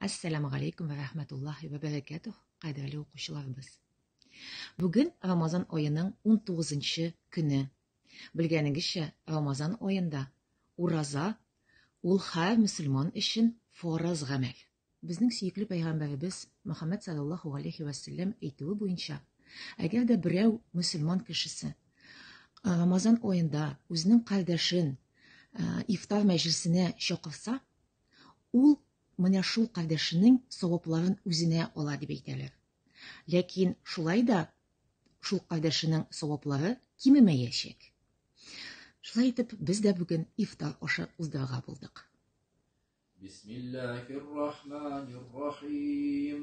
Ассаламу алейкум ва рахматуллахи ва баракатух, кадерле укучыларыбыз. Бүген Рамазан аеның 19-нчы көне. Белгәнегезчә, Рамазан аенда ураза ул һәр мусульман өчен фарыз гамәл. Безнең сөекле пәйгамбәребез Мөхәммәд саллаллаху алейхи ва саллям әйтүе буенча, әгәр дә берәү мусульман кешесе Рамазан аенда үзенең кардәшен ифтар мәҗлисенә чакырса, Ул менә шул кардәшенең савапларын үзенә ала дип әйтәләр. Ләкин шулай да шул кардәшенең саваплары кимемәячәк. Шулай итеп, без дә бүген ифтар ашы уздырырга булдык. Бисмиллахир-рахманир-рахим.